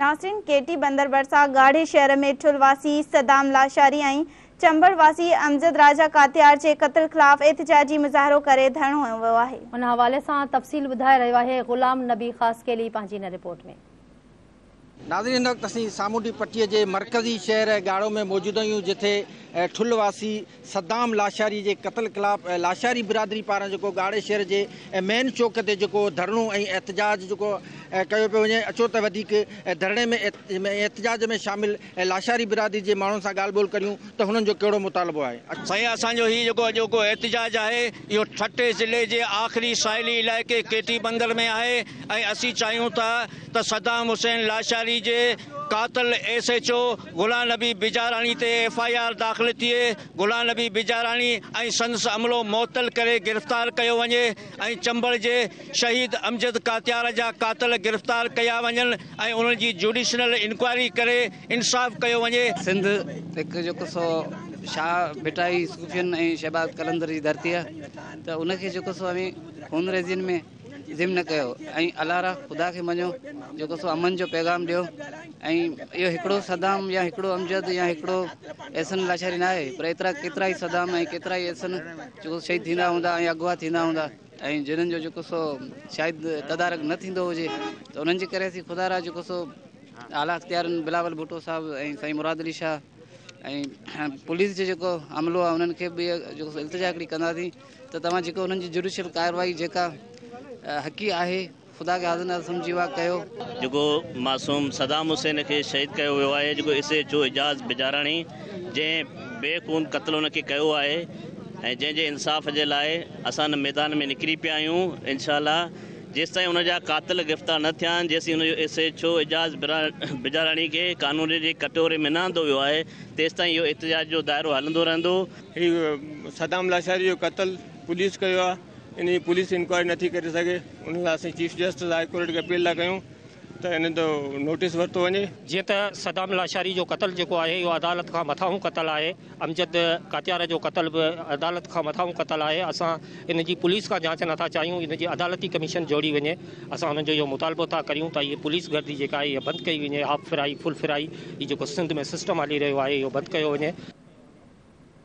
ناصرين ڪيٽي بندر ڀرسان ڳاڙهي شهر ۾ ٺل واسي صدام لاشاري ۽ چمبڙ واسي امجد راجا ڪاتيار جي قتل خلاف احتجاجي مظاهرو ڪري ڌرڻو هنيو ويو آهي. ان حوالي سان تفصيل ٻڌائي رهيو آهي غلام نبي خاصخيلي پنهنجي هن رپورٽ ۾. ناظرين هن وقت اسين سامونڊي پٽي جي مرڪزي شهر ڳاڙهو ۾ موجود آهيون جتي ٺل واسي صدام لاشاري جي قتل خلاف لاشاري برادري پاران جيڪو ڳاڙهي شهر جي مين چوڪ تي جيڪو ڌرڻو ۽ احتجاج جيڪو ڪيو پيو وڃي اچو ته وڌيڪ ڌرڻي ۾ احتجاج ۾ شامل لاشاري برادري جي ماڻهن سان ڳالهه ٻولهه ڪريون ته هنن جو ڪهڙو مطالبو آهي. سائين اسان جو هي جيڪو اڄوڪو احتجاج آهي اهو ٺٽي ضلعي جي آخري ساحلي علائقي ڪيٽي بندر ۾ آهي ۽ اسين چاهيون ٿا ته صدام حسين لاشاري جي قاتل S H O Gulan Nabi Bijarani تي ايف آء آر داخل ٿئي، گلان نبي بجاراڻي ۽ سندس عملو معطل ڪري گرفتار ڪيو وڃي ۽ چمبڙ جي شهيد امجد ڪاتيار جا قاتل گرفتار ڪيا وڃن ۽ انهن جي جوڊيشنل انڪوائري ڪري انصاف ڪيو وڃي. سنڌ هڪ جيڪو سو شاهه ڀٽائي صوفين ۽ شهباز قلندر جي ڌرتي آهي ته ان کي جيڪو سو اوهين خونريزين ۾ ذم نه ڪيو ۽ الله را خدا کي مڃو جيڪو سو امن جو پيغام ڏيو ۽ اهو هڪڙو صدام يا هڪڙو امجد يا هڪڙو احسن لاشاري نه آهي پر ايترا ڪيترا ئي صدام ۽ ڪيترا ئي احسن جيڪو شهيد ٿيندا هوندا ۽ اغوا ٿيندا هوندا ۽ جنن جو جيڪو سو شايد تدارڪ نه ٿيندو هجي ته انهن جي ڪري اسين خدا را جيڪو سو اعليٰ اختيارن بلاول ڀٽو صاحب ۽ سائين مراد علي شاهه ۽ پوليس جو جيڪو عملو آهي انهن کي به جيڪو التجا هڪڙي ڪنداسين ته توهان جيڪو انهن جي جڊيشل ڪارروائي جيڪا حقي آهي خدا کي حاضر ناظر سمجهي اها ڪيو. جيڪو معصوم صدام حسين کي شهيد ڪيو ويو آهي جيڪو S H O Ejaz Bijarani جنهن بي خون قتل ان کي ڪيو آهي ۽ جنهن جي انصاف جي لاء اسان ان ميدان ۾ نڪري پيا آهيون انشاء الله جيستائين ان جا قاتل گرفتار نه ٿيا آهن جيسين ان جو S H O Ejaz Bijarani کي قانون جي ڪٽهوري ۾ نه آندو ويو آهي تيستائين اهو احتجاج جو دائرو هلندو رهندو. هي صدام لاشاري جو قتل پوليس ڪيو آهي ان جي پوليس انڪوائري نٿي ڪري سگهي ان لاء اسين چيف جسٽس هاء ڪورٽ کي اپيل ٿا ڪيون ته ان جو نوٽيس ورتو وڃي. جيئن ته صدام لاشاري جو قتل جيڪو آهي اهو عدالت کان مٿانهون قتل آهي امجد ڪاتيار جو قتل به عدالت کان مٿانهون قتل آهي اسان ان جي پوليس کان جانچ نٿا چاهيون ان جي عدالتي ڪميشن جوڙي وڃي اسان انهن جو اهو مطالبو ٿا ڪريون ته هي پوليس گردي جيڪا آهي اها بند ڪئي وڃي هاف فرائي فل فرائي هي جيڪو سنڌ ۾ سسٽم هلي رهيو آهي اهو بند ڪيو وڃي.